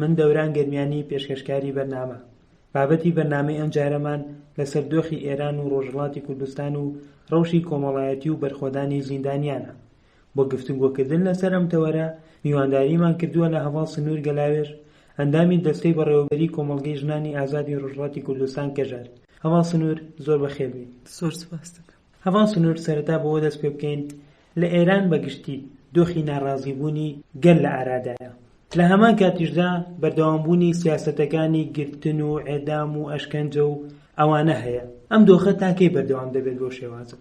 من دەوران گەرمیانی پێشکەشکاری بەرنامە. بابەتی بەرنامەی ئەمجارەمان لەسەر دۆخی ئێران و ڕۆژهەڵاتی کوردستان و ڕەوشی کۆمەڵایەتی و بەرخۆدانی زیندانیانە. بۆ گفتوگۆکردن لەسەر ئەم تەوەرە میوانداریمان کردووە لە هەڤاڵ سنوور گەلاوێژ، ئەندامی دەستەی بەڕێوەبەریی کۆمەڵگەی ژنانی ئازادی ڕۆژهەڵاتی کوردستان کەژەر. هەڤاڵ سنوور زۆر بەخێربێیت. زۆر سوپاست دەکەم. هەڤاڵ سنوور سەرەتا بەوە دەست پێ بکەین، لە ئێران بە گشتی دۆخی ناڕازیبوونی گەل لە ئارادایە، لە هەمان کاتیشدا بەردەوامبوونی سیاسەتەکانی گرتن و ئێدام و ئەشکەنجە و ئەوانە هەیە، ئەم دۆخە تا کەی بەردەوام دەبێت بەو شێوازە؟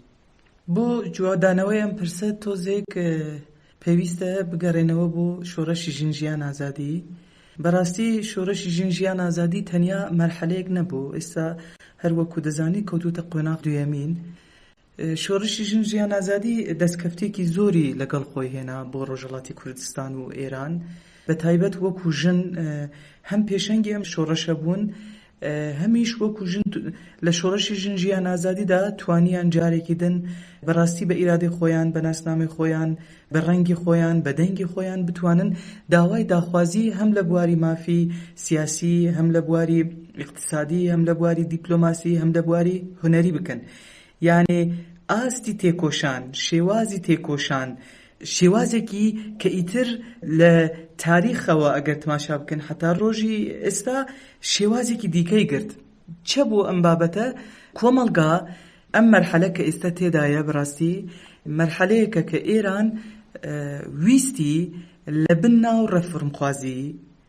بۆ جوابدانەوەی ئەم پرسە تۆزێک پێویستە بگەرێنەوە بۆ شۆرەشی ژن ژیان ئازادی بەراستی شۆرەشی ژن ژیان ئازادی تەنیا مەرحەلەیەک نەبوو ئیستا هەر وەکو دەزانی کەوتوتە قۆناغ دویەمین شۆرەشی ژن ژیان ئازادی دەسکەفتیکی زۆری لەگەڵ خۆی هێنا بۆ رۆژهەڵاتی کوردستان و ئێران بەتایبەت وەکو ژن هەم پێشەنگی ئەم شۆرەشە بوون هەمیش وەکو ژن لە شۆڕشی ژن ژیان ئازادیدا توانیان جارێکی دن بە ڕاستی بە ئیرادەی خۆیان بە ناسنامەی خۆیان بە ڕەنگی خۆیان بە دەنگی خۆیان بتوانن داوای داخوازی هەم لە بواری مافی سیاسی هەم لە بواری ئیقتسادی هەم لە بواری دیپلۆماسی هەم لە بواری هونەری بکەن یانێ ئاستی تێکۆشان شێوازی تێکۆشان شێوازێکی کە ئیتر لە تاریخەوە ئەگەر تماشا بکەن هەتا ڕۆژی ئێستا شێوازێکی دیکەی گرت چە بۆ ئەم بابەتە کۆمەڵگا ئەم مەرحەلە کە ئێستا تێدایە بڕاستی مەرحەلەیەکە کە ئێران ویستی لە بن ناو ڕەفرمخوازی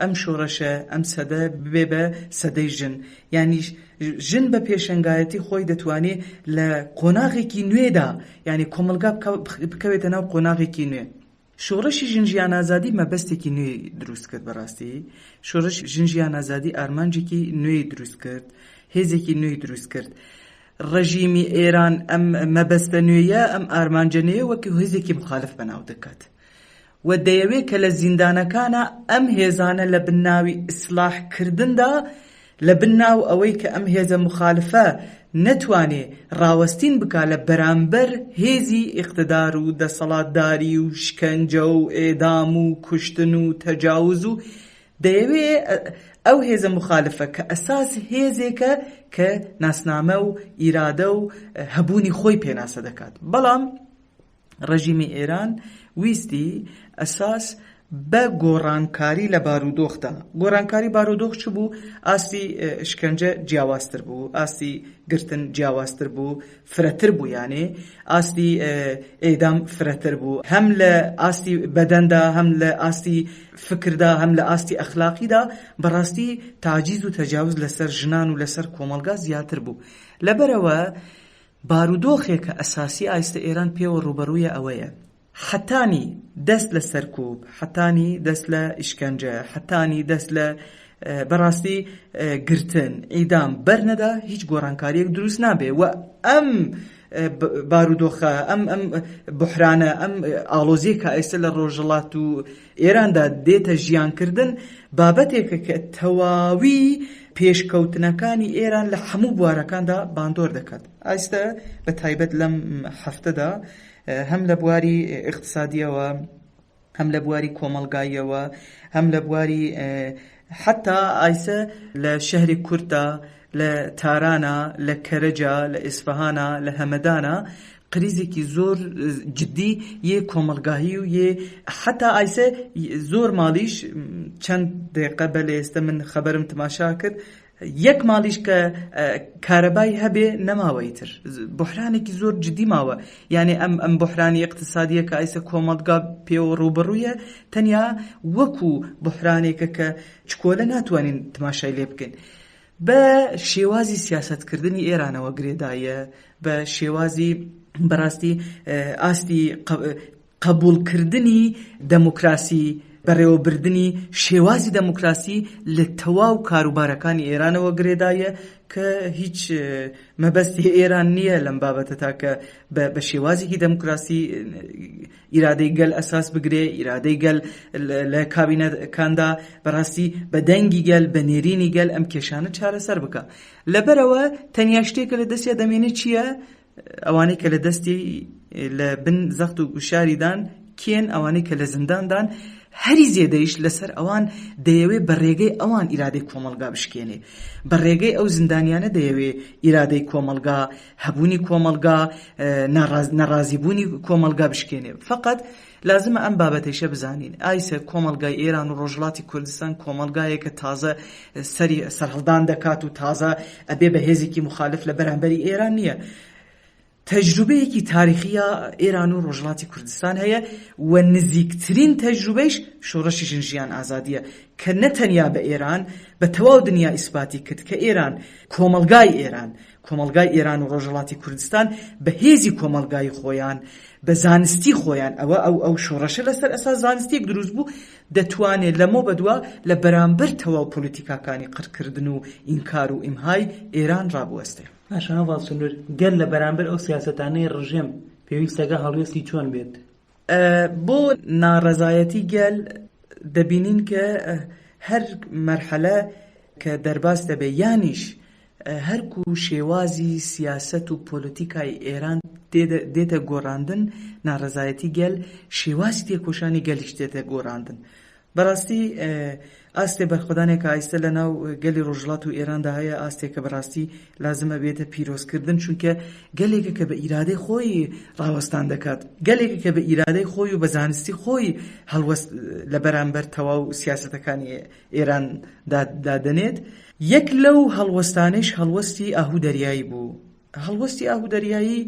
ئەم شۆڕشە، ئەم سەدە ببێ بە سەدەی ژن، یانی ژن بە پێشەنگایەتی خۆی دەتوانێ لە قۆناغێکی نوێدا، یانی کۆمەڵگا بکەوێتە ناو قۆناغێکی نوێ. شۆڕشی ژن ژیان ئازادی مەبەستێکی نوێی دروست کرد بە ڕاستی، شۆڕشی ژن ژیان ئازادی ئارمانجێکی نوێی دروست کرد، هێزێکی نوێی دروست کرد. ڕژیمی ئێران ئەم مەبەستە نوێیە، ئەم ئارمانجە نوێیە وەک هێزێکی مخالف بەناو دەکات. و دەیەوێ کە لە زیندانەکانا ئەم هێزانە لە بن ناوی ئیسلاح کردندا، لە بن ناو ئەوەی کە ئەم هێزە موخالفە نەتوانێ ڕاوەستین بکا لە بەرامبەر هێزی ئیقتدار و دەسەڵاتداری و شکەنجە و ئێدام و کوشتن و تەجاوز و دەیەوێ ئەو هێزە موخالفە کە ئەساس هێزێکە کە ناسنامە و ئیرادە و هەبوونی خۆی پێناسە دەکات بەڵام ڕێژیمی ئێران ویستی ئەساس بە گۆڕانکاری لە بارودۆخدا، گۆڕانکاری بارودۆخ چ بوو؟ ئاستی شکەنجە جیاوازتر بوو، ئاستی گرتن جیاوازتر بوو، فرەتر بوو یانێ ئاستی ئێدام فرەتر بوو، هەم لە ئاستی بەدەندا، هەم لە ئاستی فکردا، هەم لە ئاستی ئەخلاقیدا بەڕاستی تاجیز و تەجاوز لەسەر ژنان و لەسەر کۆمەڵگا زیاتر بوو، لەبەرئەوە بارودۆخێکە ئەساسی ئایستە ئێران پێوە ڕووبەڕوویە ئەوەیە، حەتانی دەست لە سەرکووب، حەتانی دەست لە ئیشکەنجە، حەتانی دەست لە بە ڕاستی گرتن، ئیدام، بەر نەدا هیچ گۆڕانکارییەک درووست نابێ و ئەم بارودۆخە، ئەم بوحرانە، ئەم ئاڵۆزییە کە ئایستە لە ڕۆژهەڵات و ئێراندا دێتە ژیانکردن، بابەتێکە کە تەواوی پێشکەوتنەکانی ئێران لە حەموو بوارەکاندا باندۆر دەکات. ئایستە بە تایبەت لەم هەفتەدا هەم لە بواری ئیقتسادییەوە، هەم لە بواری کۆمەڵگاییەوە، هەم لە بواری حەتا ئایسە لە شەهری کورددا، لە تارانە، لە کەرەجە، لە ئیسفەهانە، لە هەمەدانە، قریزێکی زۆر جدی یێ کۆمەڵگاهی و یێ حەتا ئایسە زۆر ماڵیش چەند دەیقە بەلێ ئێستە من خەبەرم تماشا کرد یەک ماڵیش کە کارەبای هەبێ نەماوە ئیتر بوحرانێکی زۆر جدی ماوە یانێ ئەم ئەم بوحرانی اقتصادیە کە ئایسە کۆمەڵگا پێوە ڕووبڕوویە تەنیا وەکو بوحرانێکە کە چکۆلە ناتوانین تماشای لێ بکەین بە شێوازی سیاستکردنی ئێرانەوە گرێدایە بە شێوازی بەڕاستی ئاستی قبوڵکردنی دەموکراسی، بەڕێوەبردنی شێوازی دەموکراسی لە تەواو کاروبارەکانی ئێرانەوە گرێدایە کە هیچ مەبەستی ئێران نییە لەم بابەتە تاکە بە شێوازێکی دەموکراسی ئیرادەی گەل ئەساس بگرێ، ئیرادەی گەل لە کابینەکاندا بەڕاستی بە دەنگی گەل، بە نێرینی گەل ئەم کێشانە چارەسەر بکا. لەبەرئەوە تەنیا شتێک کە لە دەستیا دەمێنێ چییە؟ ئەوانەی کە لە دەستی لە بن زەخت و گوشاریدان کێن ئەوانەی کە لە زینداندان هەری زێدەیش لەسەر ئەوان دەیەوێ بە ڕێگەی ئەوان ئیرادەی کۆمەڵگا بشکێنێ بە ڕێگەی ئەو زیندانیانە دەیەوێ ئیرادەی کۆمەڵگا هەبوونی کۆمەڵگا ناڕازیبوونی کۆمەڵگا بشکێنێ فقط لازمە ئەم بابەتەیشە بزانین، ئایسە، کۆمەڵگای ئێران و ڕۆژهەڵاتی کوردستان کۆمەڵگایەکە تازە سەری سەرهەڵدان دەکات و تازە ئەبێ بە هێزێکی موخالف لە بەرامبەری ئێران نییە. تەجروبەیەکی تاریخییە ئێران و ڕۆژهەڵاتی کوردستان هەیە و نزیکترین تەجروبەیش شۆڕشی ژن ژیان ئازادییە کە نە تەنیا بە ئێران بە تەواو دنیا ئیسپاتی کرد کە ئێران، کۆمەڵگای ئێران، کۆمەڵگای ئێران و ڕۆژهەڵاتی کوردستان بە هێزی کۆمەڵگایی خۆیان، بە زانستی خۆیان، ئەوە ئەو ئەو شۆڕشە لە سەر ئەساس زانستییەک دروست بوو، دەتوانێ لەمەو بە دوا لە بەرانبەر تەواو پۆلیتیکاکانی قڕکردن و ئینکار و ئیمهای ئێران ڕابوەستێ. پاشا هەڤاڵ سنوور، گەر لە بەرانبەر ئەو سیاسەتانەی ڕژێم پێویستەکە هەڵوێستی چۆن بێت؟ بۆ ناڕەزایەتی گەل دەبینین کە هەر مەرحەلە کە دەرباس دەبێ یانیش هەرکو شێوازی سیاسەت و پۆلۆتیکای ئێران دێتە گۆڕاندن ناڕەزایەتی گەل شێوازی تێکۆشانی گەلیش دێتە گۆڕاندن بەراستی ئاستێ بەرخۆدانێ کە ئایستە لە ناو گەلی رۆژهڵات و ئێران دا هەیە ئاستێ کە بەراستی لازم ئەبێتە پیرۆز کردن چونکە گەلێکە کە بە ئیرادەی خۆی راوەستان دەکات گەلێکە کە بە ئیرادەی خۆی و بە زانستی خۆی هەڵوەست لە بەرامبەر تەواو سیاسەتەکانی ئێران دا دادەنێت یەک لەو هەڵوەستانەیش هەڵوەستی ئاهو دەریایی بوو هەڵوەستی ئاهو دەریایی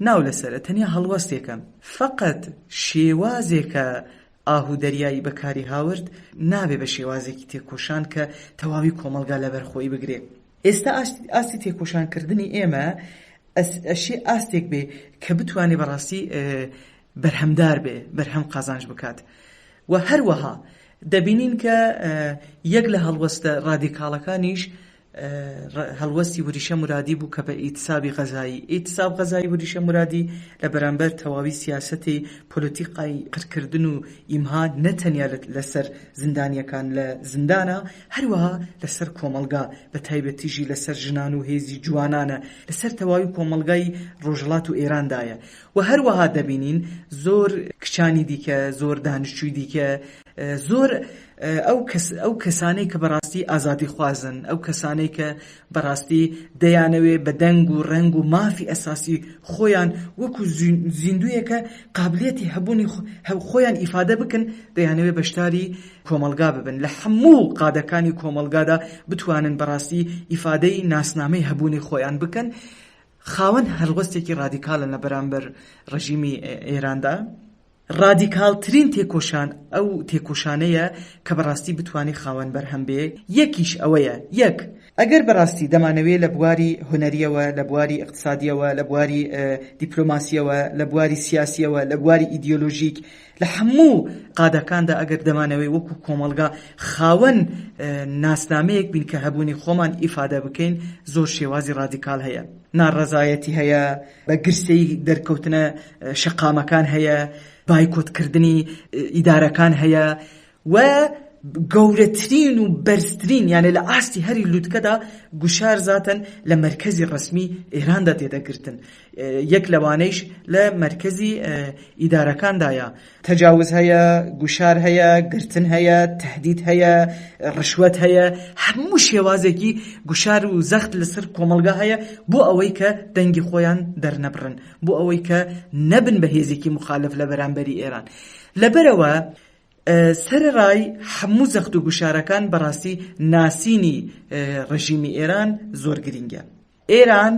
ناو لەسەرە تەنیا هەڵوەستێکە فەقەت شێوازێکە ئاه و دەریایی بەکاریهاورد نابێ بە شێوازێکی تێکۆشان کە تەواوی کۆمەڵگا لەبەر خۆی بگرێ. ئێستا ئاستی تێکۆشانکردنی ئێمە ئەشێ ئاستێک بێ کە بتوانێ بە ڕاستی بەرهەمدار بێ، بەرهەم قازانج بکات و هەروەها دەبینین کە یەک لە هەڵوەستە ڕادیکاڵەکانیش هەڵوەستی وریشە مرادی بوو کە بە ئیتسابی غەزایی، ئیتساب غەزایی وریشە مرادی، لە بەرامبەر تەواوی سیاسەتی پۆلۆتیقای قرکردن و ئیمها نە تەنیا لە سەر زندانیەکان لە زندانە هەروەها لە سەر کۆمەڵگا بە تایبەتیژی لە سەر ژنان و هێزی جوانانە لە سەر تەواوی کۆمەڵگای ڕۆژهەڵات و ئێران دایە و هەروەها دەبینین زۆر کچانی دیکە زۆر دانشجوی دیکە زۆر ئەو کەسانەی کە بەڕاستی ئازادیخوازن، ئەو کەسانەی کە بەڕاستی دەیانەوێ بە دەنگ و ڕەنگ و مافی ئەساسی خۆیان وەکو زیندووێکە قابلیەتی هەبوونی خۆیان ئیفادە بکەن، دەیانەوێ بەشداری کۆمەڵگا ببن، لە هەموو قادەکانی کۆمەڵگادا بتوانن بەڕاستی ئیفادەی ناسنامەی هەبوونی خۆیان بکەن، خاوەن هەڵوەستێکی ڕادیکالن لە بەرامبەر ڕژیمی ئێراندا. ڕادیکاڵترین تێکۆشان ئەو تێکۆشانەیە کە بەڕاستی بتوانێ خاوەن بەرهەم بێ، یەکیش ئەوەیە، یەک، ئەگەر بەڕاستی دەمانەوێ لە بواری هونەرییەوە، لە بواری ئیقتسادییەوە، لە بواری دیپلۆماسییەوە، لە بواری سیاسییەوە، لە بواری ئیدیۆلۆژیک، لە هەموو قادەکاندا ئەگەر دەمانەوێ وەکوو کۆمەڵگا خاوەن ناسنامەیەک بین کە هەبوونی خۆمان ئیفادە بکەین، زۆر شێوازی ڕادیکاڵ هەیە. ناڕەزایەتی هەیە، بە گرسەی دەرکەوتنە شەقامەکان هەیە، بایکۆتکردنی ئیدارەکان هەیە و گەورەترین و بەرزترین یانێ لە ئاستی هەری لوتکەدا گوشار زاتەن لە مەرکەزی ڕەسمی ئێراندا تێدەگرتن یەک لەوانەیش لە مەرکەزی ئیدارەکاندایە تەجاوز هەیە، گوشار هەیە، گرتن هەیە، تەهدید هەیە، ڕشوەت هەیە، هەموو شێوازێکی گوشار و زەخت لەسەر کۆمەڵگا هەیە بۆ ئەوەی کە دەنگی خۆیان دەرنەبڕن، بۆ ئەوەی کە نەبن بە هێزێکی موخالەف لە بەرامبەری ئێران. لەبەرئەوە سەرەڕای هەموو زەخت و گوشارەکان بەڕاستی ناسینی ڕژیمی ئێران زۆر گرینگە. ئێران،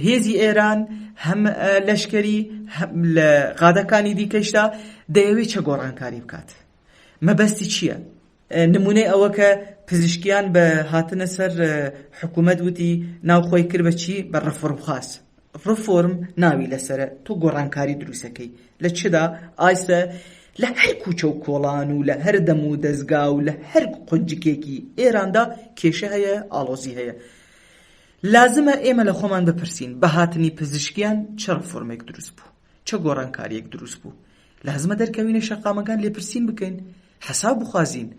هێزی ئێران هەم لەشکەری هەم لە غادەکانی دیکەشدا دەیەوێت چە گۆڕانکاری بکات مەبەستی چییە؟ نمونەی ئەوە کە پزیشکیان بە هاتنە سەر حکوومەت وتی ناوخۆی کرد بە چی بە ڕفرم خاص ڕفۆرم ناوی لەسرە تۆ گۆڕانکاری دروستەکەی لە چدا ئایسە لە هەر کوچە و کۆڵان و لە هەر دەم و دەستگا و لە هەر قنجکێکی ئێراندا کێشە هەیە ئاڵۆزی هەیە لازمە ئێمە لە خۆمان بپرسین، بە هاتنی پزیشکیان چ ڕێفۆرمێک دروست بوو؟ چ گۆڕانکارییەک دروست بوو؟ لازمە دەرکەوینە شەقامەکان لێپرسین بکەین، حەساب بخوازین.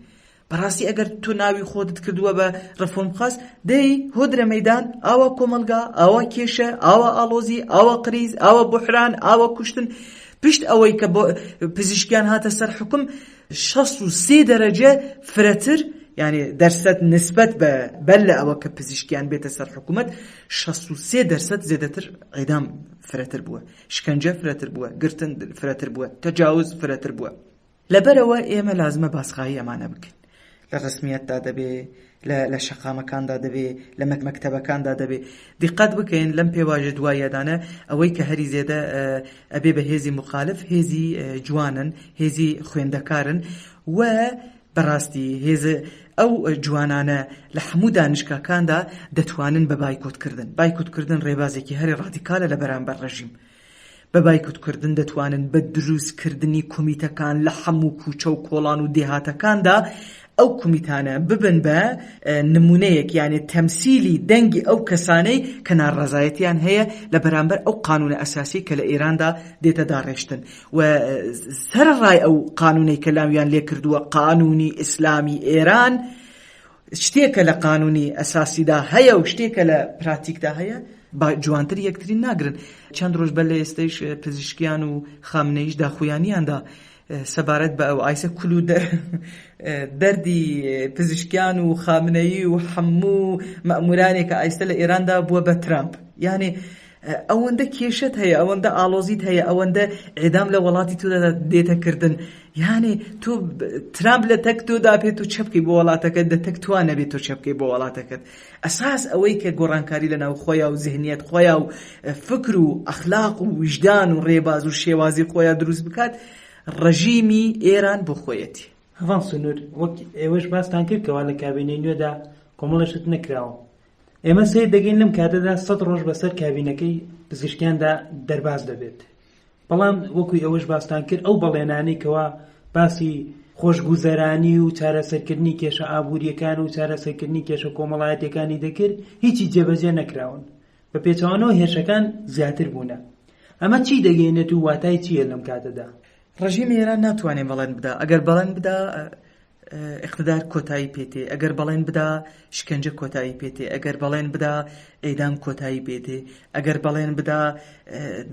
بەڕاستی ئەگەر تۆ ناوی خۆتت کردووە بە ڕێفۆرمخواز، دەی هۆدرە مەیدان، ئاوا کۆمەڵگا، ئاوا کێشە، ئاوا ئاڵۆزی، ئاوا قریز، ئاوا بوحران، ئاوا کوشتن، پشت ئەوەی کە پزیشکیان هاتە سەر حوکم، شەست و سێ دەرەجە فرەتر یانێ دەرسەت نسبەت بە بەر لە ئەوە کە پزیشکیان بێتە سەر حکوومەت شەست و سێ دەرسەت زێدەتر عێدام فرەتر بووە شکەنجە فرەتر بووە گرتن فرەتر بووە تەجاوز فرەتر بووە لەبەرەوە ئێمە لازمە باسخایی ئەمانە بکەین لە ڕەسمیەتدا دەبێ، لە شەقامەکاندا دەبێ، لە مەکتەبەکاندا دەبێ. دیققەت بکەین لەم پێواژە دواییەدانە ئەوەی کە هەری زێدە ئەبێ بە هێزی موخالف هێزی جوانن، هێزی خوێندەکارن و بە ڕاستی هێز ئەو جوانانە لە حەموو دانیشگاکاندا دەتوانن بە بایکۆت کردن، بایکۆت کردن ڕێبازێکی هەرە ڕادیکالە لە بەرامبەر ڕێژیم. بە بایکوت کردن دەتوانن بە دروست کردنی کومیتەکان لە حەموو کوچە و کۆڵان و دێهاتەکاندا ئەو کومیتانە ببن بە نمونەیەک یانێ تەمسیلی دەنگی ئەو کەسانەی کە ناڕەزایەتیان هەیە لە بەرامبەر ئەو قانونە ئەساسیەی کە لە ئێراندا دێتە داڕێشتن و سەرەڕای ئەو قانونەی کە لاویان لێکردووە قانونی ئیسلامی ئێران شتێکە لە قانونی ئەساسیدا هەیە و شتێکە لە پراتیکدا هەیە با جوانتر یەکتری ناگرن چەند ڕۆژ بە لە ئێستش پزیشکیان و خامنەیش داخویانیاندا سەبارەت بە ئەو ئایسە کول و دەردی پزیشکیان و خامنەیی و حەموو مەمورانێکە ئایسە لە ئێراندا بووە بە ترامپ یانێ ئەوەندە کێشەت هەیە ئەوەندە ئاڵۆزیت هەیە ئەوەندە ئێدام لە وەڵاتی تۆدا دێتە کردن یانێ تۆ ترامپ لە تەک تۆدا پێت و چەپکی بۆ وڵاتەکەت دە تەک توان نەبێت تۆ چەپکی بۆ وڵاتەکەت ئەساس ئەوەی کە گۆڕانکاری لە ناو خۆیا و زهنیت خۆیا و فکر و ئەخلاق و ویژدان و ڕێباز و شێوازی خۆیا دروست بکات ڕژیمی ئێران بۆ خۆیەتی هەڤاڵ سنوور وەک ئێوەش باستان کرد کەوا لە کابینەی نوێدا کۆمەڵێک شت نەکراوە ئێمە سەیر دەکەین لەم کاتەدا سەد ڕۆژ بەسەر کابینەکەی پزیشکیاندا دەرباز دەبێت بەڵام وەکوی ئەوەش باستان کرد ئەو بەڵێنانەی کەوا باسی خۆشگوزەرانی و چارەسەرکردنی کێشە ئابوووریەکان و چارەسەرکردنی کێشە کۆمەڵایەتەکانی دەکرد هیچی جێبەجێ نەکراون بە پێچوانەوە هێرشەکان زیاتر بوونە ئەمە چی دەگەینێت و واتای چییە لەم کاتەدا ڕژیمی ئێران ناتوانێت بەڵێن بدا ئەگەر بەڵێن بدا ئیقتدار کۆتایی پێتێ ئەگەر بەڵێن بدا شکەنجە کۆتایی پێتێ ئەگەر بەڵێن بدا ئێدام کۆتایی پێتێ ئەگەر بەڵێن بدا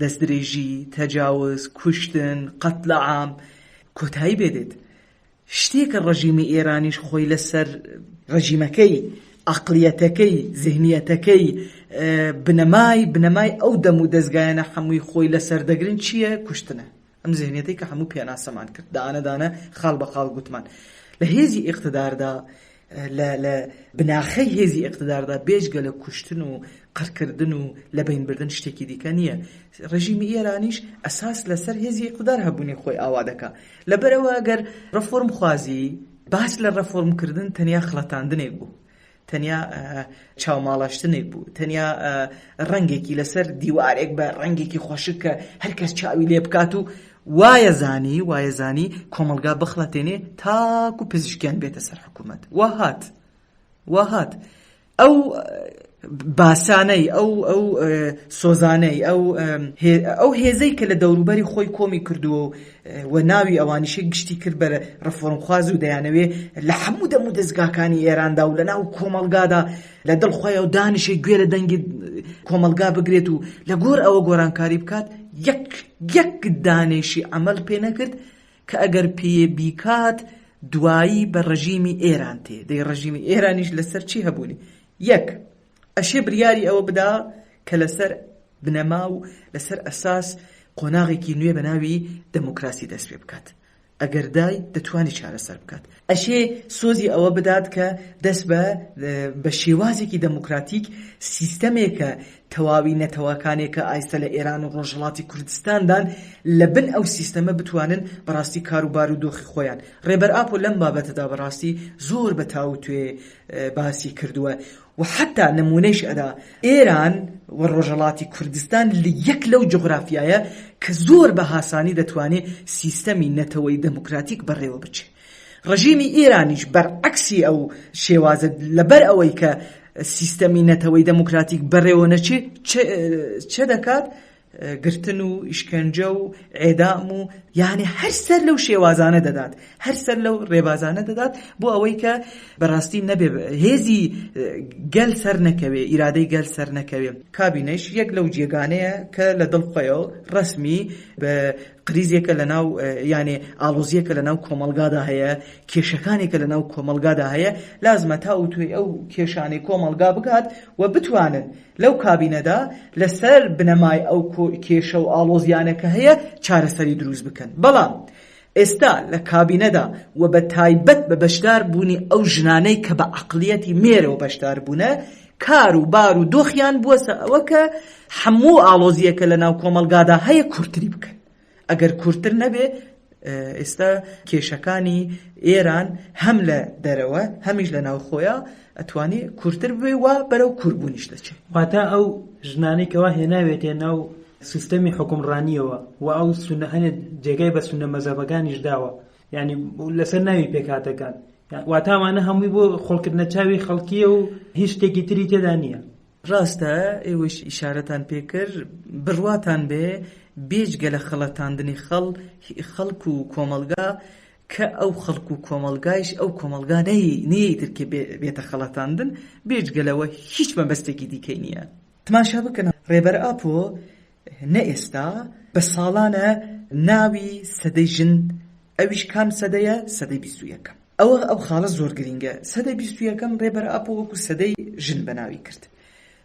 دەستدرێژی تەجاوز کوشتن قەت لە عام کۆتایی بێدێت شتێکە ڕژیمی ئێرانیش خۆی لەسەر ڕژیمەکەی ئەقلیەتەکەی زیهنیەتەکەی بنەمای بنەمای ئەو دەم و دەستگایەنە حەمووی خۆی لەسەر دەگرن چییە کوشتنە ئەم زهنیەتەی کە هەموو پێناسەمان کرد دانە دانە خاڵ بە خاڵ گوتمان لە هێزی ئیقتداردا لە بناخەی هێزی ئەقتداردا بێژگە لە کوشتن و قڕکردن و لە بینبردن شتێکی دیکە نییە ڕژیمی ئێرانیش ئەساس لەسەر هێزی ئەقتدار هەبوونی خۆی ئاوا دەکا لەبەرەوە گەر ڕفۆرم خوازی باس لە ڕفۆرمکردن تەنیا خڵەتاندنێک بوو تەنیا چاوماڵاشتنێک بوو، تەنیا ڕەنگێکی لەسەر دیوارێک بە ڕەنگێکی خۆشک کە هەرکەس چاوی لێ بکات و وایەزانی وایەزانی کۆمەلگا بخڵەتێنێ تاکو پزیشکیان بێتە سەر حکوومەت وهات وهات ئەو باسانەی ئەو ئەو سۆزانەی ئەو ئەو هێزەی کە لە دەوروبەری خۆی کۆمی کردووە و و ناوی ئەوانیشی گشتی کرد بە ڕفۆرمخواز و دەیانەوێ لە هەموو دەم و دەزگاکانی ئێراندا و لە ناو کۆمەڵگادا لە دڵ خۆیەوە دانیشێ گوێ لە دەنگی کۆمەڵگا بگرێت و لە گۆر ئەوە گۆرانکاری بکات یەک یەک دانێشی عەمەل پێ نەکرد کە ئەگەر پێیە بیکات دوایی بە ڕژیمی ئێران تێ دەی ڕژیمی ئێرانیش لەسەر چی هەبوونی یەک ئەشێ بریاری ئەوە بدا کە لەسەر بنەما و لەسەر ئەساس قۆناغێکی نوێ بە ناوی دەموکراسی دەست پێ بکات. ئەگەر دای دەتوانی چارەسەر بکات. ئەشێ سۆزی ئەوە بدات کە دەست بە بە شێوازێکی دەموکراتیک سیستەمێکە تەواوی نەتەوەکانێکە ئایسە لە ئێران و ڕۆژهەڵاتی کوردستاندان لە بن ئەو سیستەمە بتوانن بەڕاستی کاروبار و دۆخی خۆیان. ڕێبەر ئاپۆ لەم بابەتەدا بەڕاستی زۆر بە تاووتوێ باسی کردووە و حەتا نموونەیش ئەدا ئێران و ڕۆژەڵاتی کوردستان لە یەک لەو جوغرافیایە کە زۆر بە هاسانی دەتوانێ سیستەمی نەتەوەی دەموکراتیک بەڕێوە بچێ ڕژیمی ئێرانیش بەر عەکسی ئەو شێوازە لەبەر ئەوەی کە سیستەمی نەتەوەی دەموکراتیک بەڕێوە نەچێ چ دەکات؟ گرتن و ئیشکەنجە و ئێدام و یانێ هەر سەر لەو شێوازانە دەدات هەر سەر لەو ڕێبازانە دەدات بۆ ئەوەی کە بەڕاستی نەبێ هێزی گەل سەر نەکەوێ ئیرادەی گەل سەر نەکەوێ کابینەش یەک لەو جێگانەیە کە لە دڵ خۆیەوە ڕسمی بە قریزێکە لە ناو یانێ ئاڵۆزیەکە لە ناو کۆمەلگادا هەیە کێشەکانێکە لە ناو کۆمەلگادا هەیە لازمە تا وتوێ ئەو کێشانەی کۆمەلگا بگات و بتوانن لەو کابینەدا لەسەر بنەمای ئەو کێشە و ئاڵۆزیانە کە هەیە چارەسەری دروست بکەن، بەڵام ئێستا لە کابینەدا و بە تایبەت بە بەشدار بوونی ئەو ژنانەی کە بە عەقڵیەتی مێرەوە بەشدار بوونە کار و بار و دۆخیان بووەسە ئەوە کە هەموو ئاڵۆزیەکە لە ناو کۆمەڵگادا هەیە کورتری بکەن. ئەگەر کورتتر نەبێت ئێستا کێشەکانی ئێران هەم لە دەرەوە هەمیش لە ناوخۆیە ئەتوانی کورتتر بێ وا بەرەو کوربوونیش دەچێت واتا ئەو ژنانەی کەوا هێناوێتێ ناو سیستەمی حکومڕانیەوە و ئەو سونەهێنێت جێگای بە سونە مەزەبەکانیش داوە ینی لەسەر ناوی پێکاتەکان واتامانە هەمووی بۆ خۆڵکردنە چاوی خەڵکیە و هیچ شتێکی تری تێدا نییە ڕاستە ئێوەش ئیشارەتان پێ کرد بڕواتان بێ بێجگە لە خەڵەتاندنی خەڵ خەڵک و کۆمەڵگا کە ئەو خەڵک و کۆمەڵگایش ئەو کۆمەڵگا نەی نیەی تر کە بێ بێتە خەڵەتاندن بێجگە لەوە هیچ مەبەستێکی دیکەی نیە تماشا بکەنە ڕێبەر ئاپۆ نە ئێستا بە ساڵانە ناوی سەدەی ژن ئەویش کام سەدەیە سەدەی بیست و یەکەم ئەوە ئەو خاڵە زۆر گرینگە سەدەی بیست و یەکەم ڕێبەر ئاپۆ وەکو سەدەی ژن بەناوی کرد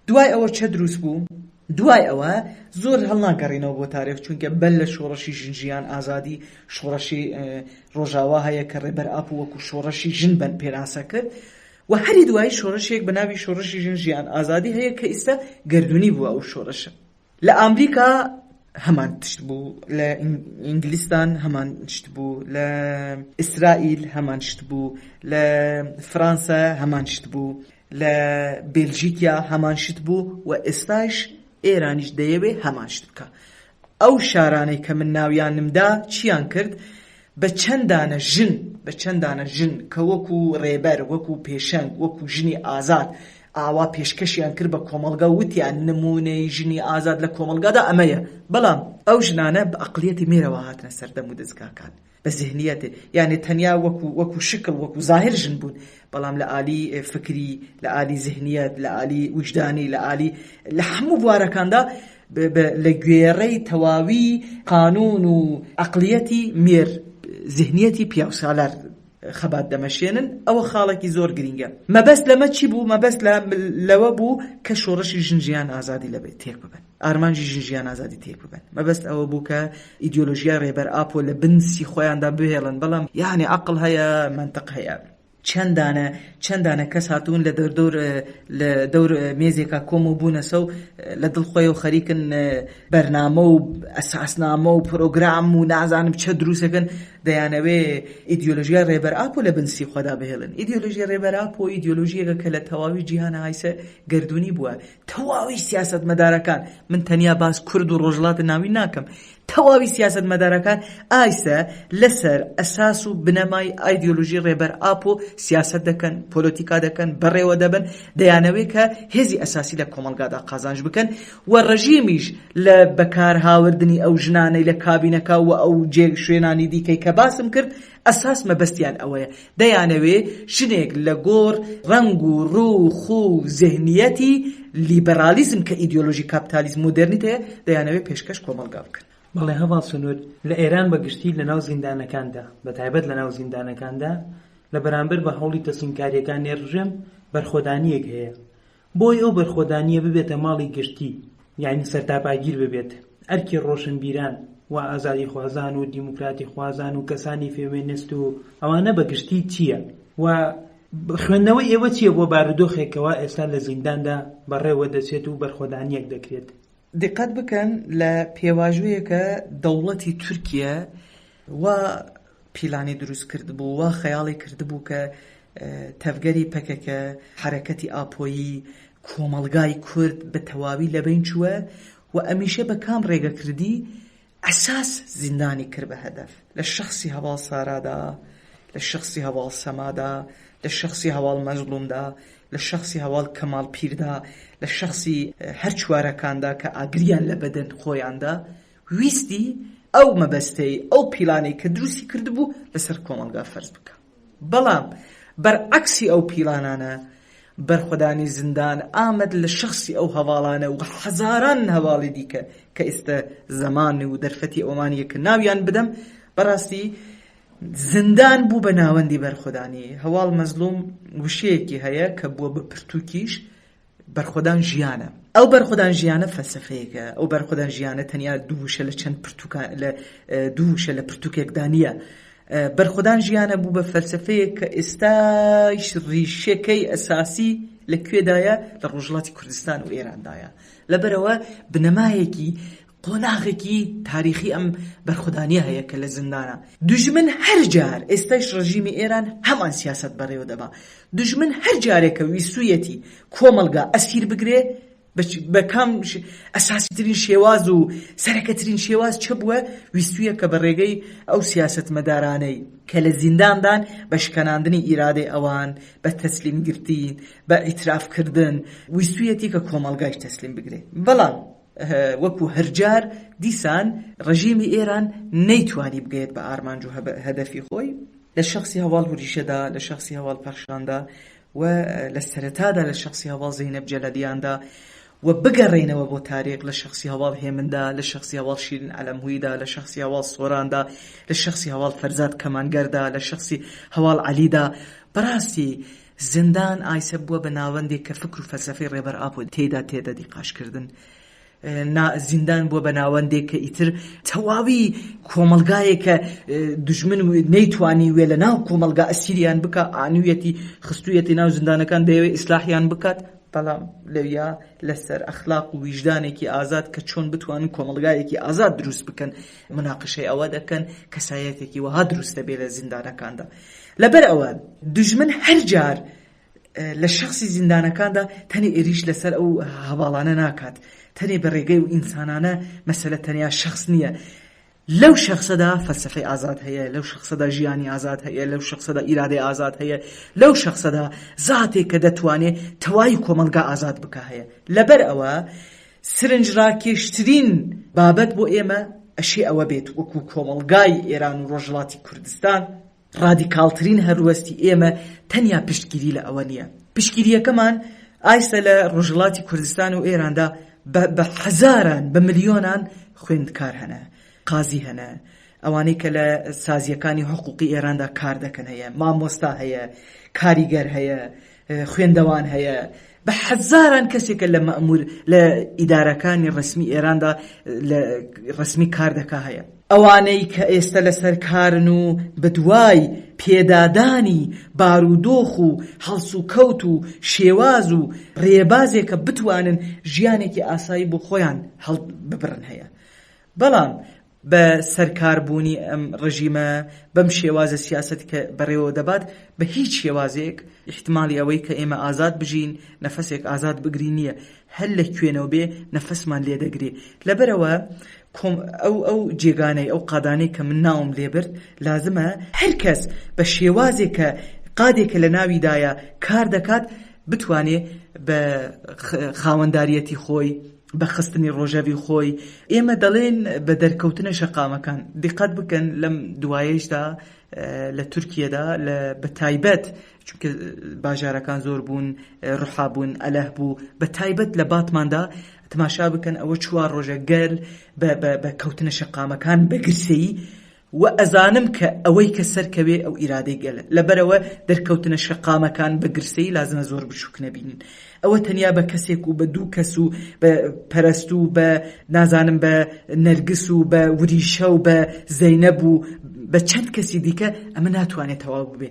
دوای ئەوە چە دروست بوو دوای ئەوە زۆر هەڵناگەڕینەوە بۆ تارێخ چونکە بەر لە شۆڕەشی ژن ژیان ئازادی شۆڕەشی ڕۆژاوا هەیە کە ڕێبەر ئاپۆ وەکو شۆڕەشی ژن بەن پێناسە کرد وە هەری دوایی شۆرشێک بە ناوی شۆرشی ژن ژیان ئازادی هەیە کە ئیستە گەردونی بوە ئەو شۆرشە لە ئامریکا هەمان تشت بو لە ئینگلیستان هەمان تشت بو لە ئیسرائیل هەمان تشت بو لە فرانسە هەمان تشت بو لە بێلژیکیا هەمان شت بو وە ئێستایش ئێرانیش دەیەوێ هەمان شت بکا ئەو شارانەی کە من ناویانم دا چیان کرد؟ بە چەند دانە ژن، بە چەند دانە ژن کە وەکو ڕێبەر، وەکو پێشەنگ، وەکو ژنی ئازاد ئاوا پێشکەشیان کرد بە کۆمەڵگا و وتیان نموونەی ژنی ئازاد لە کۆمەڵگادا ئەمەیە، بەڵام ئەو ژنانە بە ئەقڵیەتی مێرەوە هاتنە سەر دەم و دەزگاکان. بە زهنیەت یانێ تەنیا وەکو وەکو شکڵ وەکو زاهر ژن بوون بەڵام لە ئالی فکری لە ئالی زهنیەت لە ئالی وجدانی لە ئالی لە هەموو بوارەکاندا لە گوێڕەی تەواوی قانون و عقلیەتی مێر زهنیەتی پیاوسالار خەبات دەمەشێنن ئەوە خاڵێکی زۆر گرینگە مەبەست لەمە چی بوو مەبەست لەوە بوو کە شۆڕشی ژن ژیان ئازادی لەبێت تێک ببن ئارمانجی ژن ژیان ئازادی تێک ببەن مەبەست ئەوە بوو کە ئیدۆلۆژیای ڕێبەر ئاپۆ لە بنسی خۆیاندا بهێڵن بەڵام یانێ عقل هەیە منتەق هەیە چەندانە چەندانە کەس هاتوون لە دەردۆر لە دەور مێزێکا کۆم و بوونەسە و لە دڵ خۆی و خەریکن بەرنامە و ئەساسنامە و پرۆگرام و نازانم چە دروستەکەن دەیانەوێ ئیدیۆلژیای ڕێبەر ئاپۆ لە بنسی خۆدا بهێڵن ئیدیۆلژی ڕێبەر ئاپۆ ئیدیۆلژیەکە کە لە تەواوی جیهان هایسە گردردونی بووە تەواوی سیاسەتمەدارەکان، من تەنیا باس کورد و ڕۆژهەڵاتی ناوین ناکەم، تەواوی سیاسەتمەدارەکان ئایسە لەسەر ئەساس و بنەمای ئایدیۆلۆژی ڕێبەر ئاپۆ سیاسەت دەکەن، پۆلۆتیکا دەکەن، بەڕێوە دەبەن، دەیانەوێ کە هێزی ئەساسی لە کۆمەڵگادا قازانج بکەن و ڕژیمیش لە بەکارهاوردنی ئەو ژنانەی لە کابینەکە و ئەو جێ شوێنانی دیکەی کە باسم کرد ئەساس مەبەستیان ئەوەیە دەیانەوێ ژنێک لە گۆڕ ڕەنگ و ڕوو و خو و زهنیەتی لیبرالیزم کە ئیدیۆلۆژی کاپتالیزم مۆدێرنیتەیە دەیانەوێ پێشکەش کۆمەڵگا بکەن. بەڵێ هەڤاڵ سنوور لە ئێران بە گشتی لە ناو زیندانەکاندا بە تایبەت لە ناو زیندانەکاندا لە بەرامبەر بە هەوڵی تەسلیمکاریەکانێ ڕژێم بەرخۆدانیەک هەیە بۆی ئەو بەرخۆدانییە ببێتە ماڵی گشتی، یانی سەرتاپاگیر ببێت، ئەرکی ڕۆشنبیران و ئازادیخوازان و دیموکراتیخوازان و کەسانی فێمێنست و ئەوانە بە گشتی چییە و خوێندنەوەی ئێوە چییە بۆ بارودۆخێک کەوا ئێستا لە زینداندا بەڕێوە دەچێت و بەرخۆدانییەک دەکرێت؟ دیقەت بکەن لە پێواژۆیەکە دەوڵەتی تورکیە وا پیلانی دروست کردبوو وا خەیاڵی کردبوو کە تەڤگەری پەکەکە حرەکەتی ئاپۆیی کۆمەڵگای کورد بە تەواوی لەبەین چووە و ئەمیشە بە کام ڕێگە کردی عەساس زیندانی کرد بە هەدەف لە شەخسی هەڤاڵ سارادا، لە شەخسی هەڤاڵ سەمادا، لە شەخسی هەڤاڵ مەزڵومدا، لە شەخسی هەڤاڵ کەماڵ پیردا، لە شەخسی هەر چوارەکاندا کە ئاگریان لە بەدەن خۆیاندا ویستی ئەو مەبەستەی ئەو پیلانەی کە دروستی کردبوو لەسەر کۆمەڵگا فەرز بکا. بەڵام بەرعەکسی ئەو پیلانانە، بەرخۆدانی زیندان ئامەد لە شەخسی ئەو هەڤاڵانە و هەزاران هەڤاڵی دیکە کە ئیستە زەمان و دەرفەتی ئەوەمان یە کە ناویان بدەم، بەراستی زیندان بوو بە ناوەندی بەرخۆدانی هەواڵ مەزلوم وشەیەکی هەیە کە بووە بە پرتووکیش، بەرخۆدان ژیانە. ئەو بەرخۆدان ژیانە فەلسەفەیەکە، ئەو بەرخۆدان ژیانە تەنیا دوو وشە لە چەند پرتووکا لە دوو وشە لە پرتووکێکدا نییە. بەرخۆدان ژیانە بوو بە فەلسەفەیەک کە ئێستاش ڕیشەکەی ئەساسی لە کوێدایە؟ لە ڕۆژهەڵاتی کوردستان و ئێراندایە. لەبەرئەوە بنەمایەکی قۆناغێکی تاریخی ئەم بەرخودانیە هەیە کە لە زیندانە. دوژمن هەر جار، ئێستایش ڕژیمی ئێران هەمان سیاسەت بەڕێوە دەبا، دوژمن هەر جارێ کە ویستوویەتی کۆمەڵگا ئەسیر بگرێ، بە کام ئەساسی ترین شێواز و سەرەکە ترین شێواز چ بووە، ویستوویە کە بە ڕێگەی ئەو سیاسەتمەدارانەی کە لە زیندان دان بە شکەناندنی ئیرادەی ئەوان، بە تەسلیم گرتین، بە ئیتراف کردن، ویستوویەتی کە کۆمەڵگایش تەسلیم بگرێ. بەڵام. وەکو هەرجار دیسان ڕژێمی ئێران نەیتوانی بگەێت بە ئارمانج و هەدەفی خۆی لە شخصی هەواڵ هوریشەدا لە شخصی هەواڵ پەخشاندا و لە سەرەتادا لە شخصی هەواڵ زینەب جەلەلیاندا و بگەڕێنەوە بۆ تاریخ لە شخصی هەواڵ هێمندا لە شخصی هەواڵ شیرن ئەلەمهویدا لە شخصی هەواڵ سۆراندا لە شخصی هەواڵ فەرزاد کەمانگەردا لە شخصی هەواڵ عەلیدا بەڕاستی زیندان ئایسە بووە بە ناوەندێک کە فکر و فەلسەفەی ڕێبەر ئاپۆ تێیدا تێدە دیقاش کردن. زیندان بووە بە ناوەندێک کە ئیتر تەواوی کۆمەڵگایە کە دژمن و نەیتوانی وێ لە ناو کۆمەلگا ئەسیریان بکە ئانویەتی خستویەتی ناو زیندانەکان دەیەوێ ئیسلاحیان بکات بەڵام لەویا لەسەر ئەخلاق و ویژدانێکی ئازاد کە چۆن بتوانن کۆمەلگایەکی ئازاد دروست بکەن مناقشەی ئەوە دەکەن کەسایەتێکی وەها دروستە بێ لە زیندانەکاندا. لەبەر ئەوە دوژمن هەر جار لە شەخسی زیندانەکاندا تەنێ ئێریش لەسەر ئەو هەڤاڵانە ناکات، تەنێ بە رێگەی و ئینسانانە، مەسەلە تەنیا شەخس نییە، لەو شەخسەدا فەلسەفەی ئازاد هەیە، لەو شەخسەدا ژیانی ئازاد هەیە، لەو شەخسەدا ئیرادەی ئازاد هەیە، لەو شەخسەدا زاتێک کە دەتوانێ تەوای کۆمەڵگا ئازاد بکا هەیە. لەبەر ئەوە سرنجڕاکێشترین بابەت بۆ ئێمە ئەشێ ئەوە بێت وەکوو کۆمەڵگای ئێران و رۆژهەڵاتی کوردستان، ڕادیکاڵترین هەلوەستی ئێمە تەنیا پشتگیری لە ئەوە نییە. پشتگیرییەکەمان ئایسە لە ڕۆژهەڵاتی کوردستان و ئێراندا بە هەزاران، بە ملیۆنان خوێندکار هەنە، قازی هەنە، ئەوانەی کە لە سازییەکانی حقووقی ئێراندا کار دەکەن هەیە، مامۆستا هەیە، کاریگەر هەیە، خوێندەوان هەیە، بە هەزاران کەسێکە لە مەئموور لە ئیدارەکانی ڕەسمی ئێراندا لە ڕەسمی کار دەکا هەیە. ئەوانەی کە ئێستە لەسەر کارن و بەدوای پێدادانی بارودۆخ و هەڵسوکەوت و شێواز و ڕێبازێک کە بتوانن ژیانێکی ئاسایی بۆ خۆیان هەڵببڕن هەیە. بەڵام بە سەرکار بوونی ئەم ڕژیمە بەم شێوازە سیاسەت کە بەڕێوە دەبات بە هیچ شێوازێک ئیحتمالی ئەوەی کە ئێمە ئازاد بژین نەفەسێک ئازاد بگرین نیە هەر لە کوێنەوە بێ نەفەسمان لێ دەگرێ لەبەرەوە کۆم ئەو ئەو جێگانەی ئەو قادانەی کە من ناوم لێ برد لازمە هەر کەس بە شێوازێک کە قادێکە لە ناویدایە کار دەکات بتوانێ بە خاوەنداریەتی خۆی بە خستنی ڕۆژەڤی خۆی، ئێمە دەڵێین بە دەرکەوتنە شەقامەکان. دیققەت بکەن لەم دوایەیشدا لە تورکیەدا لە بە تایبەت چونکە باژارەکان زۆر بوون ڕحا بوون ئەلەه بوو بە تایبەت لە باتماندا تماشا بکەن ئەوە چوار ڕۆژە گەل بە کەوتنە شەقامەکان بە گرسەی وە ئەزانم کە ئەوەی کە سەرکەوێ ئەو ئیرادەی گەلە، لەبەرئەوە دەرکەوتنە شەقامەکان بە گرسەیی لازمە زۆر بچوک نەبینن، ئەوە تەنیا بە کەسێک و بە دوو کەس و بە پەرەستو و بە نازانم بە نەرگس و بە وریشە و بە زەینەب و بە چەند کەسی دیکە ئەمە ناتوانێ تەواو ببێ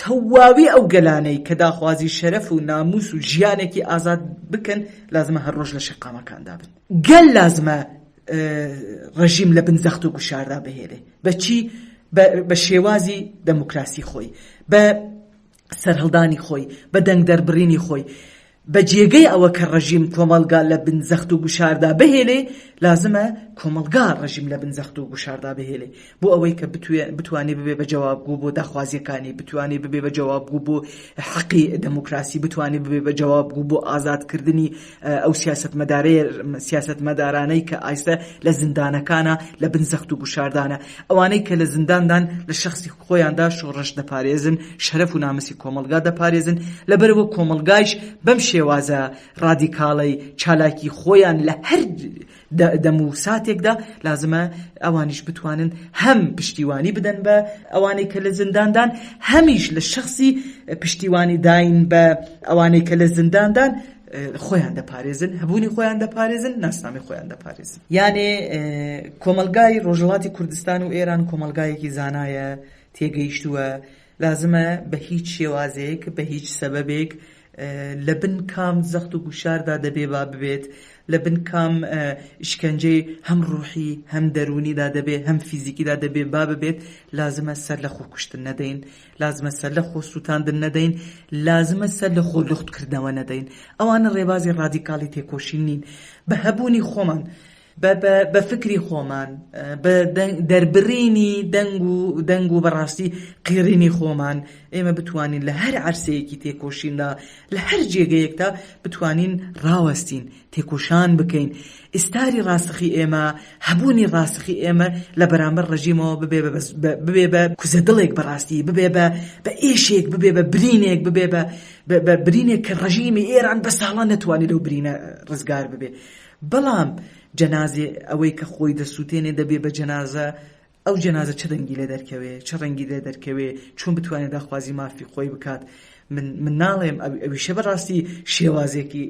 تەواوی ئەو گەلانەی کە داخوازی شەرەف و ناموس و ژیانێکی ئازاد بکەن لازمە هەر ڕۆژ لە شەقامەکاندا بن گەل لازمە ڕژیم لە بن زەخت و گوشاردا بهێلێ بەچی بە شێوازی دەموکراسی خۆی بە سەرهەڵدانی خۆی بە دەنگ دەربڕینی خۆی بە جێگەی ئەوە کە ڕژیم کۆمەلگا لە بن زەخت و گوشاردا بهێلێ لازمە کۆمەلگا ڕژیم لە بن زەخت و گوشاردا بهێلێ بۆ ئەوەی کە بتوانێت ببێت بە جەوابگۆ بۆ داخوازییەکانی، بتوانێت ببێت بە جەوابگۆ بۆ حەقی دێموکراسی، بتوانێت ببێت بە جەوابگۆ بۆ ئازادکردنی ئەو سیاسەتمەدارانەی کە ئایستە لە زیندانەکانە، لە بن زەخت و گوشاردانە. ئەوانەی کە لە زینداندان لە شەخسی خۆیاندا شۆڕش دەپارێزن، شەرەف و ناموسی کۆمەڵگا دەپارێزن، لەبەرئەوە کۆمەڵگایش بەم شێوازە ڕادیکاڵەی چالاکی خۆیان لە هەر دەم و ساتێکدا لازمە ئەوانیش بتوانن هەم پشتیوانی بدەن بە ئەوانەی کە لە زینداندان هەمیش لە شەخسی پشتیوانی داین بە ئەوانەی کە لە زینداندان خۆیان دەپارێزن هەبوونی خۆیان دەپارێزن ناسنامی خۆیان دەپارێزن یانێ کۆمەلگای ڕۆژهڵاتی کوردستان و ئێران کۆمەلگایەکی زانایە تێگەیشتووە لازمە بە هیچ شێوازێک بە هیچ سەبەبێک لە بن کام زەخت و گوشاردا دەبێ با ببێت، لە بن کام ئیشکەنجەی هەم ڕووحی، هەم دەروونیدا دەبێ، هەم فیزیکیدا دەبێ با ببێت، لازمە سەر لە خۆکوشتن نەدەین، لازمە سەر لە خۆسووتاندن نەدەین، لازمە سەر لە خۆ لووخت کردنەوە نەدەین. ئەوانە ڕێبازی ڕادیکاڵی تێکۆشین نین. بە هەبوونی خۆمان بە بە بە فکری خۆمان بە دەنگ دەربڕینی دەنگ و دەنگ و بەڕاستی قیڕینی خۆمان ئێمە بتوانین لە هەر عەرسەیەکی تێکۆشیندا لە هەر جێگەیەکدا بتوانین ڕاوەستین تێکۆشان بکەین ئیستاری ڕاستەخی ئێمە هەبوونی ڕاستەخی ئێمە لە بەرامبەر ڕژیمەوە ببێ بە بەس بە ببێ بە کوزە دڵێک بەڕاستی ببێ بە بە ئێشێک ببێ بە برینێک ببێ بە بە بە برینێک کە ڕژیمی ئێران بە ساڵان نەتوانێت لەو برینە ڕزگار ببێ بەڵام جەنازێ ئەوەی کە خۆی دەسووتێنێ دەبێ بە جەنازە، ئەو جەنازە چ دەنگی لێ دەرکەوێ، چ ڕەنگی لێ دەرکەوێ، چۆن بتوانێ داخوازی مافی خۆی بکات؟ من من ناڵێم ئەو ئەویشە بەڕاستی شێوازێکی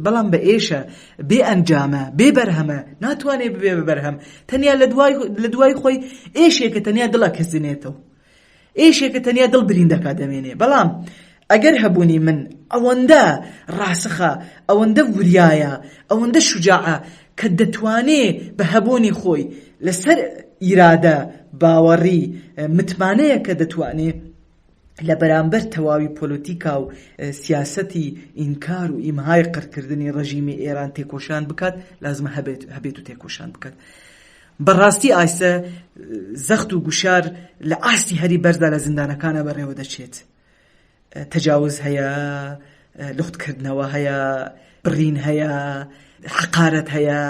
بەڵام بە ئێشە بێ ئەنجامە بێ بەرهەمە ناتوانێ ببێ بە بەرهەم تەنیا لە دوای لە دوای خۆی ئێشێکە تەنیا دڵە کەزنێتەوە ئێشێ کە تەنیا دڵ برین دەکا دەمێنێ بەڵام ئەگەر هەبوونی من ئەوەندە ڕاسخە ئەوەندە وریایە ئەوەندە شوجاعە کە دەتوانێ بە هەبوونی خۆی لە سەر ئیرادە باوەڕی متمانەیە کە دەتوانێ لە بەرامبەر تەواوی پۆلۆتیکا و سیاسەتی ئینکار و ئیمهای قڕکردنی ڕەژیمی ئێران تێکۆشان بکات لازمە هەبێت هەبێت و تێکۆشان بکات. بەڕاستی ئاستە زەخت و گوشار لە ئاستی هەری بەرزدا لە زیندانەکانا بەڕێوە دەچێت. تەجاوز هەیە، لوخت کردنەوە هەیە، بڕین هەیە، حەقارەت هەیە،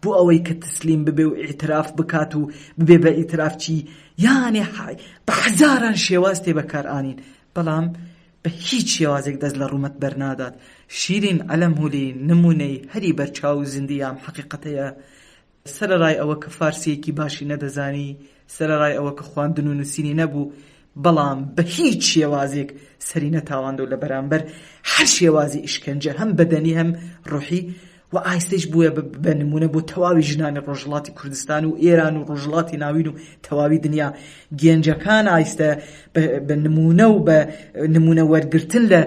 بۆ ئەوەی کە تەسلیم ببێ و ئیعتراف بکات و ببێ بە ئیترافچی، یانێ بە حەزاران شێواز تێ بەکار ئانین، بەڵام بە هیچ شێوازێک دەست لە ڕوومەت بەر نادات. شیرین عەلەمهولی نموونەی هەری بەرچاو و زیندی ئەم حەقیقەتەیە. سەرەڕای ئەوە کە فارسییەکی باشی نەدەزانی، سەرەڕای ئەوە کە خواندن و نووسینی نەبوو، بەڵام بە هیچ شێوازێک سەری نەتاڵاند و لە بەرامبەر هەر شێوازی ئیشکەنجە هەم بەدەنی هەم ڕوحی و ئایستەیش بووە بە نموونە بۆ تەواوی ژنانی ڕۆژهەڵاتی کوردستان و ئێران و ڕۆژهەڵاتی ناوین و تەواوی دنیا. گەنجەکان ئایستە بە نموونە و بە نموونە وەرگرتن لە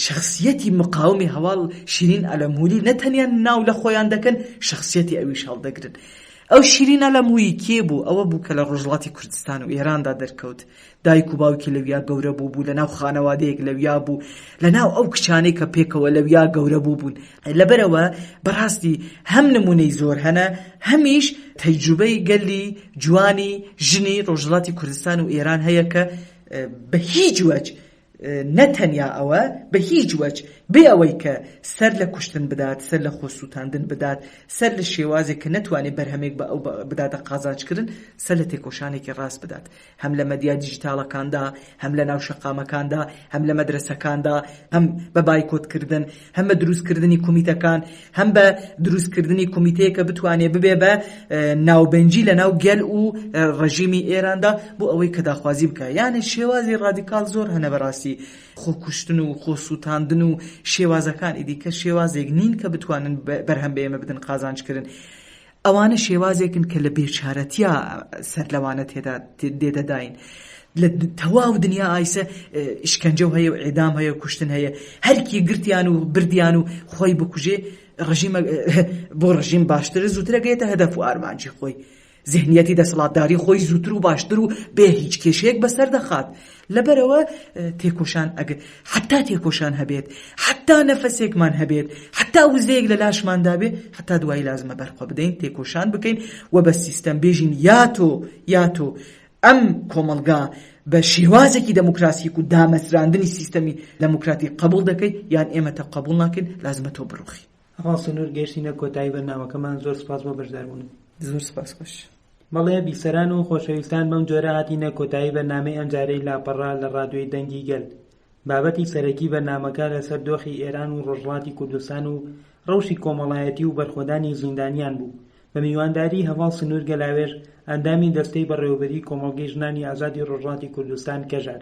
شخصیەتی مقاومی هەواڵ شیرین ئەلەمووری نە تەنیا ناو لە خۆیان دەکەن شخصیەتی ئەویش هەڵدەگرن. ئەو شیرین ئەلەموویی کێ بوو؟ ئەوە بوو کە لە ڕۆژهەڵاتی کوردستان و ئێراندا دەرکەوت. دایک و باوکی لەویا گەورە بووبوو، لەناو خانەوادەیەک لەویا بوو، لەناو ئەو کچانەی کە پێکەوە لەویا گەورە بووبوون. لەبەرئەوە بەڕاستی هەم نمونەی زۆر هەنە هەمیش تەیجوبەی گەلی جوانی ژنی ڕۆژهەڵاتی کوردستان و ئێران هەیە کە بە هیچ وەج نە تەنیا ئەوە بە هیچ وەج بێ ئەوەی کە سەر لە کوشتن بدات سەر لە خۆ سوتاندن بدات سەر لە شێوازێک کە نەتوانێ بەرهەمێک بە ئەو بداتە قازانجکردن سەر لە تێکۆشانێکی ڕاست بدات هەم لە مەدیا دیجیتاڵەکاندا، هەم لە ناو شەقامەکاندا، هەم لە مەدرەسەکاندا، هەم بە بایکۆتکردن، هەم بە دروستکردنی کومیتەکان، هەم بە دروستکردنی کومیتەیەک کە بتوانێت ببێت بە ناوبەنجی لە ناو گەل و ڕێژیمی ئێراندا بۆ ئەوەی کە داخوازی بکات. یانێ شێوازی ڕادیکاڵ زۆر هەنە بەڕاستی خۆکوشتن و خۆسووتاندن و شێوازەکان ئیدیکە شێوازێک نین کە بتوانن بەرهەم بە ئێمە بدن قازانجکرن. ئەوانە شێوازێکن کە لە بێچارەتیا سەر لەوانە تێدا دێدەداین. لە تەواو دنیا ئایسە شکەنجە و هەیە و ئێدام هەیە و کوشتن هەیە هەرکی گرتیان و بردیان و خۆی بکوژێ ڕژیمە بۆ ڕژیم باشترە زووترەگەێتە هەدەف و ئارمانجی خۆی زهنیەتی دەسەڵاتداری خۆی زووتر و باشتر و بێ هیچ کێشەیەک بەسەر دەخات لەبەرئەوە تێکۆشان ئەگەر حەتا تێکۆشان هەبێت، حەتا نەفەسێکمان هەبێت، حەتا وزەیەک لە لاشماندا بێت، حەتا دوایی لازمە بەرخۆ بدەین، تێکۆشان بکەین و بە سیستەم بێژین یا تۆ یا تۆ ئەم کۆمەڵگا بە شێوازێکی دەموکراسیک و دامەزراندنی سیستەمی دەموکراتیک قەبوڵ دەکەی یان ئێمە تۆ قەبوڵ ناکەین، لازمە تۆ بڕوخی. ڕاسنور گەیشتینە کۆتایی بەرنامەکەمان زۆر سوپاس بۆ بەشداربوونت. زۆر سوپاس خۆش. بەڵێ بیسەران و خۆشەویستان بەم جۆرە هاتینە کۆتایی بەرنامەی ئەمجارەی لاپەڕە لە ڕادیۆی دەنگی گەل. بابەتی سەرەکی بەرنامەکە لەسەر دۆخی ئێران و ڕۆژهەڵاتی کوردستان و ڕەوشی کۆمەڵایەتی و بەرخۆدانی زیندانیان بوو بە میوانداری هەڤاڵ سنور گەلاوێژ ئەندامی دەستەی بەڕێوەبەری کۆمەڵگەی ژنانی ئازادی ڕۆژهەڵاتی کوردستان کەژار